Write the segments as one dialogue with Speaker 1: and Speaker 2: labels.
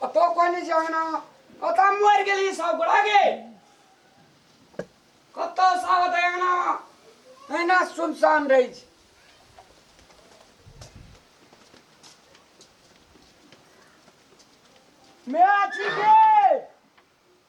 Speaker 1: कतौ कोई नहीं जाना कतौ मर गेली सब गोड़ा गे कतौ सावत आना एना सुनसान रही छै मेरा छी के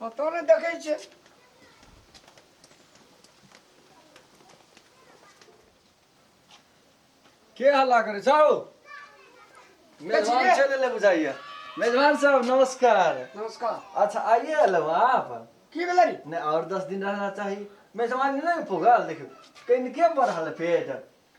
Speaker 1: पतो नहि देखै छै के हल्ला करै छौ मेजबान चले ले बुझाइए मेजबान साहब नमस्कार नमस्कार अच्छा आइए अलो आप की भेलै नहीं और दस दिन रहना चाहिए मेजबान नहीं पुगल देखियो कनिके बढ़ल पेट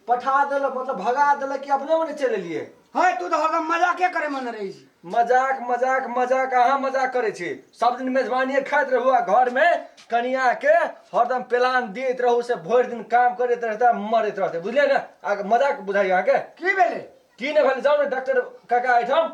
Speaker 1: पठा देलक मतलब भगा देलक कि अपने मने चलि एलियै है तू तो हरदम मजाके करे मन रही छी मजाक मजाक मजाक अहाँ मजाक करै छी सब दिन मेजबानिए खाइत रहू आ घरमे कनियाके हरदम प्लान दैत रहू से भरि दिन काम करैत रहतै आ मरैत रहतै बुझलियै ने अहाँके मजाक बुझाइए अहाँके की भेलै की नहि भेलै जाउ ने डॉक्टर काका एहिठाम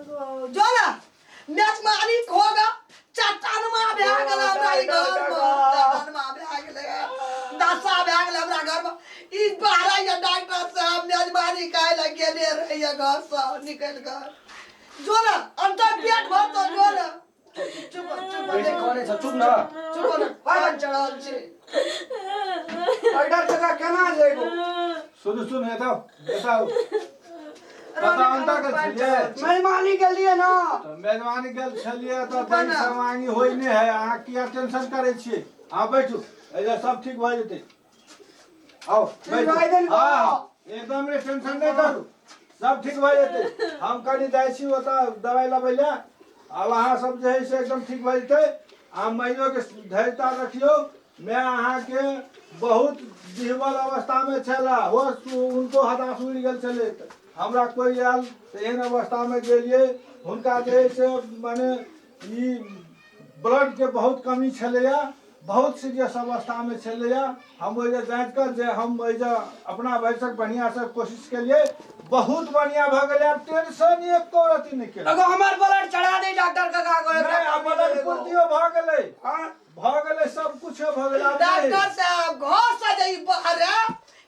Speaker 1: एगो जो ना मैच मारी होगा चट्टान मा भए गेल हमरा ई घर में चट्टान मा भए गेल दशा भए गेल हमरा घर में ई बाहर या डॉक्टर साहब मैच मारी खाए लग गेले रहिए घर से निकल गए जो ना अंतर पेट भर तो जो ना सुन सुन है तो बताओ मेहमानी के लिए ना तो मेहमानी के लिए तो तन समानी होई ने है अहाँ किया टेंशन करे छी अहाँ बैठू एजा सब ठीक भ जेतै आओ ठीक भाई देली तो। हाँ एकदम रे टेंशन नहीं करू सब ठीक भए जेतै हम कनी जाइ छी ओतऽ दवाइ लबै लए आब अहाँ सब जे है से एकदम ठीक भए जेतै आ माइयो के धैर्यता रखियौ मैं अहाँ के बहुत डिहबल अवस्था में छला हो उनको हताश उड़ि गेल छलै हमरा कोई आयल तऽ एहन अवस्था में गेलियै हुनका जे है से माने ई ब्लडके बहुत कमी छलैए बहुत सीरियस अवस्थामे छलैए हम ओहि जे जाँच कऽ जे हम ओहि जे अपना भरिसँ बढ़िआँसँ कोशिश केलिए बहुत बढ़िआँ भऽ गेलै आब टेंशन एको रति नहि केलक अगो हमार ब्लड चढ़ा दे डॉक्टर का का करे नहि, आब ब्लड पूर्तियो भऽ गेलै भऽ गेलै सब किछो भऽ गेलै आब नहि। डॉक्टर साहब घर से जे ई बाहर है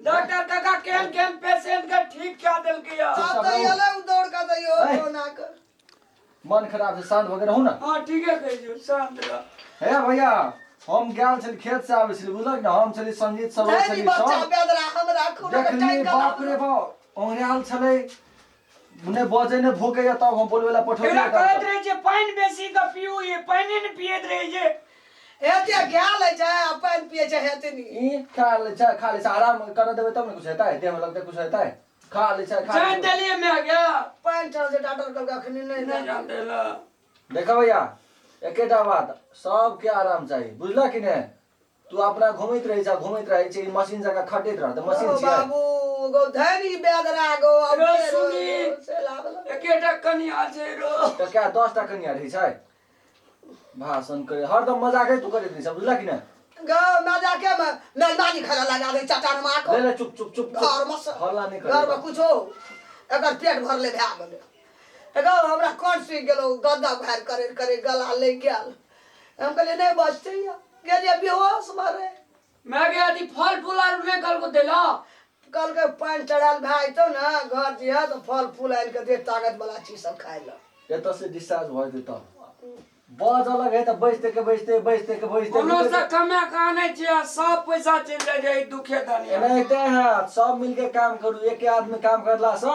Speaker 1: डॉक्टर काका केहन केहन पेशेंट के ठीक कऽ देलकै या आब तऽ एलै ओ दौड़ कऽ दैयो ऐ। कोरोना के मन खराब छै शान्त भऽ के रहू ने हां ठीके कहै छियै शान्त रह हे भैया हम गेल छली खेत से आबै छली बुझलक ने हम छली संगीत सब नहि छली बच्चा सब बेदरा हम राखू ने देखली टाइम बाप रे बाप औंघरायल छलै नहि बजे नहि भूके या तब हम बोलबे ला पठो एकरा कहैत रहे जे पानि बेसी के पीऊ ये पानि ने पियत रहे जे एते गैल है जाय आ पानि पिए छै हेतनी ई खा ले छै खा ले छै आराम कर देबे तब ने कुछ हेतै देह में लगते कुछ हेतै खा ले छै खा जान देलिए मैं गया पानि चल जे डॉक्टर कहल अखनी नहीं नहीं जान देला देखो भैया एकेटा बात सबके आराम चाहिए बुझला कि नहीं तू अपना घुमैत रहै छ घुमैत रहै छै मशीन जका खटैत रह त मशीन छियै बाबू गो धरी बेदरा गो रो सुनी एकेटा कनिया छै रो त क्या 10 टा कनिया रहै छै भाषण करे हरदम मजाके तू करैत रहै छ बुझला कि नहि गो मजाके मे मेहमानी खाना लगा दे चटान मार को ले ले चुप चुप चुप घर में हल्ला नहीं घर में कुछो एकर पेट भरले भए गेलै एगो हमरा कोन सुख गेलो गद्दा भार करे करे गला लग गेल हम कहलियै नहि बचते या गेलियै बेहोश मरे माय गे अथी फल फूल आर नहि कहलको दै लऽ कहलकै पानि चढ़ायल भए जेतौ ने घर जे है तऽ फल फूल आनि कऽ दे ताकत वाला चीज सब खाय लए एतऽ से डिस्चार्ज भऽ जेतै तब बज अलग है तऽ बैजते के बैजते बैजते के बैजते कोनो से कमा के आनै छै आ सब पैसा चलि जाइ छै एहि दुखे धनिया एनाहिते है सब मिलके काम करू एके आदमी काम करला से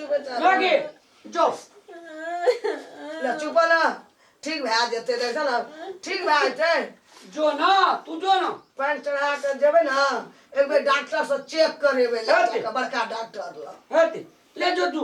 Speaker 1: मागे जो ले चुप ना ठीक भए जेतै देख ने ठीक भए जेतै जो ना तू जो ना पानि चढ़ा कऽ जेबै ने एक बेर डॉक्टर से चेक करेबै लड़का के बड़का डॉक्टर लग हेतै ले जो तू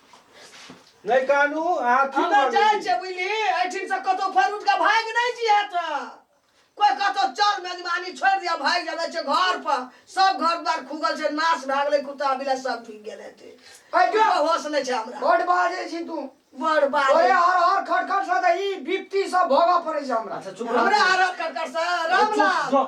Speaker 1: नहि कानू अहाँ की हमे जाइ करबै छियै बुझली एहिठिन से कतौ फर उठ के भागि नहि जिया तऽ कोई कतौ चल मेजबानी छोड़ि दिया भागि जाबे छै घर पर सब घर द्वार खुगल छै नाश भए गेलै कुत्ता बिलाइ सब ढुकि गेल हेतै अरे जो। कोनो होश नहि छै हमरा बड बाजे छी तू बड़ ओए बात हर हर खट खट से तऽ ई बिपती सब भोगऽ पड़ै छै हमरा अच्छा चुप हमरा रह आरत कर कर से रामलाल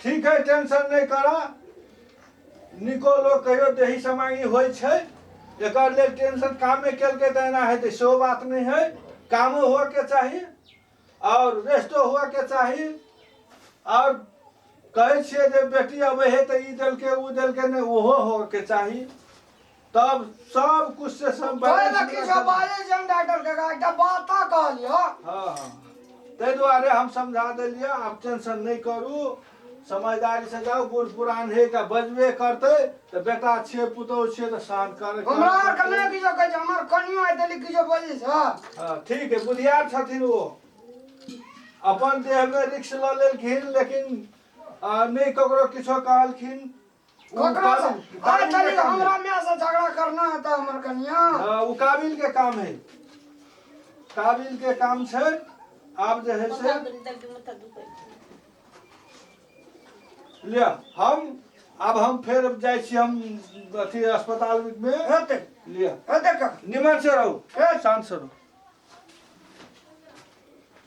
Speaker 1: ठीक है टेंशन नहीं करा निको लोग कहियो देही समांगी होय छै एकर लेल टेंशन कामे केल के देना है तो सो बात नहीं है कामो हो के चाहिए और रेस्टो हो के चाहिए और कहे छे जे बेटी अबे है तो ई देल के ऊ देल के नहीं ओहो हो के चाहिए तब सब कुछ से सब तोरे बैलेंस देखी मिला सब सब- बाले जंग डॉक्टर के का एकटा बाता कहलियो हाँ, हाँ। ताहि दुआरे हम समझा देलियै आब टेंशन नहि करू समझदारी से जाउ बूढ़ पुरान हे के बजबे करतै तऽ बेटा छियै पुतहु छियै तऽ शान कर हमरा आर के नहि किछो कहै छै हमर कनियो आइ देली किछो बजै छै हाँ, ठीक है बुधियार छथिन ओ अपन देह में रिक्स लऽ लेलखिन लेकिन आ, नहि ककरो किछो कहलखिन ककरा से आ चली हमरा में से झगड़ा करना है तो हमर कनिया हाँ, उ काबिल के काम है काबिल के काम छै आब जे है से लिया हम आब हम फेर जाइ छी हम अथी अस्पताल में हेते लिया हेते का निमन से रहू ए शांत से रहू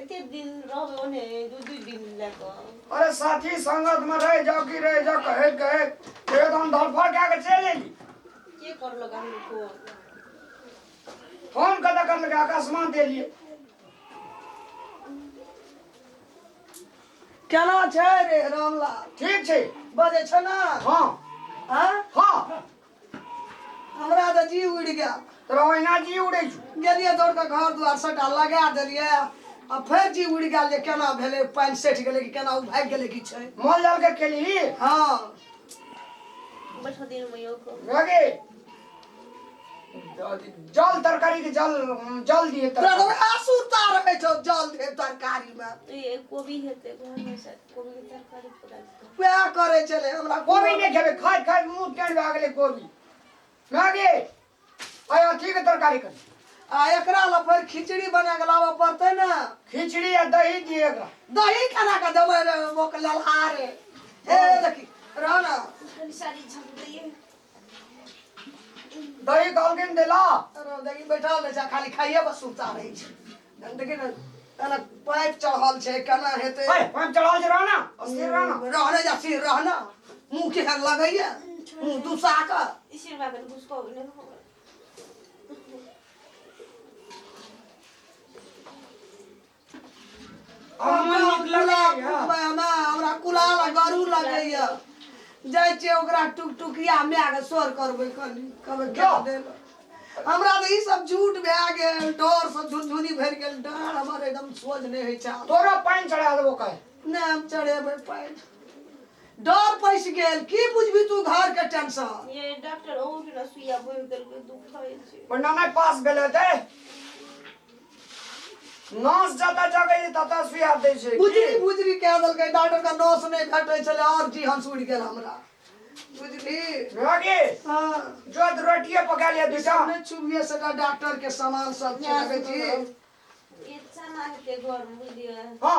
Speaker 1: एते दिन रहबे ओने दू दू दिन लए कऽ अरे साथी संगत में रह जाओ कि रह जाओ कहे कहे कहे तो हम धरफड़ क्या के चले एली के कर लगा हम को फोन कदा कर लगा अकस्मात दे लिए केना छै रे रामलाल ठीक छै बजे छ ना हाँ हाँ हाँ हमरा तऽ जी उड़ि गेल तोरा ओहिना जी उड़ै छौ गेलियै दौड़ कऽ घर दुआर सभटा लगा देलियै आ फेर जी उड़ि गेल जे केना भेलै पानि सठि गेलै कि केना ओ भागि गेलै कि छै मोल जाल के केलही हँ बैठो दिन में यो को रगे जल तरकारी के जल जल दिए तोरा तरकारी तऽ आसू तार होइ छौ जल धे तरकारीमे ये कोबी हेते घर में से वएह करे चले हमरा कोबी नहीं खेबे खाय खाय मुंह टेढ़ भए गेलै कोबी मागे आय अथी के तरकारी कर आ एकरा ला फेर खिचड़ी बना के लाबऽ पड़तै ने खिचड़ी आ दही दिए एकरा दही केना के देबै रे मोक ललहारे हे देखी रह ने दही कहलखिन देला दही बैठल रहै छै खाली खाइए बस सुनता रहै छै देखिन एना पाइप चढ़ल छै केना हेतै पाइप चढ़ल छै रहना सिर रहना रहने जा सिर रहना मुँह के हर लगैया मुँह दुसा कऽ इसिर बात घुसको नहि हो हमरा कुला फुटबै हमरा हमरा कुला लग गरू लगैया जाइ छियै ओकरा टुकटुकिया माय के सोर करबै कनी कहबै क्या देल हमरा तऽ ई सब झूठ भए गेल डर से झुनझुनी भरि गेल डर हमर एकदम सोझ नहि होइ छै आब। तोरा पानि चढ़ा देबो कहे नहि हम चढ़ेबै पानि डर पैसि गेल की बुझबी तू घर के टेंशन ये डॉक्टर और ना सुइया बोल देलकै दुखाय छै ओना नहि पास भेलै ते नस जतऽ जगै छै ततऽ सुइया दै छै बुझरी की? बुझरी कए देलकै डॉक्टर का नस नहि भेटै छलै आओर जी हंस उड़ि गेल हमरा बुझली मौगी हाँ जो तऽ रोटिये पका लिअ दू टा सामने चुभिए सटा डॉक्टर के सामान सब छै देखै छी गीत सना के घर में बुझलिए हँ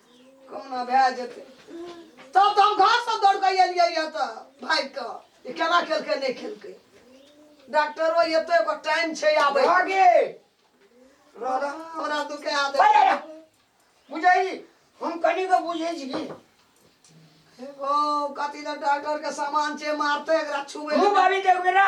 Speaker 1: कोना भए जेतै तब तऽ हम घरसँ दौड़ कऽ एलियै यऽ तऽ भागि कऽ जे केना खेलकै नहि खेलकै डॉक्टरो एतै ओकर टाइम छै आबै रह गे रह रह हमरा दुखा अरे, देबै अरे, बुझै छी हम कनी के बुझै छी की ओ कथी लए डॉक्टर के सामान छै मारतै एकरा छुबै मुँह बाबी देखबै ना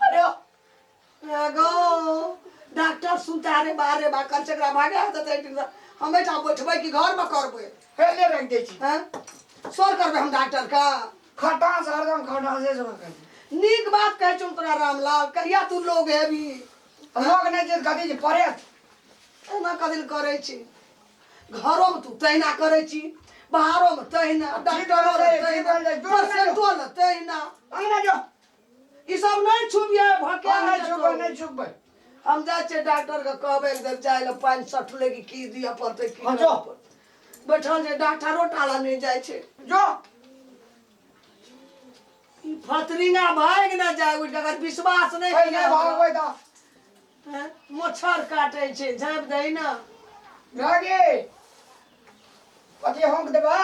Speaker 1: अरे गो डॉक्टर सुनता अरे बारे बा कर चकरा भागे हाथ देते एक दिन से। हम एटा बैठबै कि घर में करबै हेले रख दै छी हैं सर करबै हम डॉक्टर का खटा से हरदम खटा से जोर कर नीक बात कहै छौ तोरा रामलाल कहिया तू लोग हेबी लोग नहीं जे कथी जे पड़े एना कदिल करै छी घरोमे तू तहिना करै छी बाहरोमे तहिना डॉक्टरो लग तहिना परसेंटो लग तहिना अंगना जो ई सब नहि छुबिए भके नहि छुबे नहि छुबे हम जा छे डॉक्टर के कहबे एक दिन जाय ले पानी सटले कि की दिए पड़ते की हाँ, जाओ। बैठल जे डॉक्टरो टाला नहीं जाय छे जो ई फतरिंगा भाग ना जाय उठ अगर विश्वास नहीं पहिले किया भाग भागबै दा हैं? मच्छर काटे छे झाँप दे ना गागे पति होंक देबा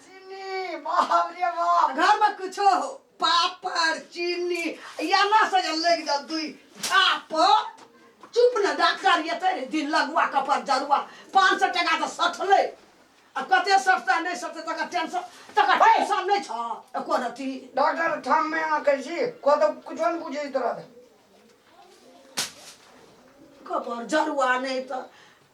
Speaker 1: चिन्नी बाप रे बाप घर में कुछो हो पापड़ चीनी एना से जे लग जा दुई छाप चुप ने डॉक्टर एते रे दिन लगुआ कपर जरुआ पाँच सौ टका तऽ सठलै आ कते सठतै नहि सठतै तकर टेंशन तकर टेंशन नहि छौ एको रति डॉक्टर ठाम में यहाँ करी छी को तो कुछ नहीं पूछे इस तरह से कपर जरुआ नहि तऽ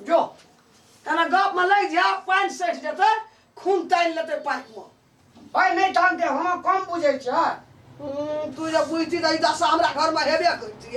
Speaker 1: जो तेना गप में लग जाओ पानि सठि जेतै खून तानि लेतै पाकि में भाय नहि जानते हम कम बुझे छ तू जब बुझती तो दशा हमरा घर में हेबे करती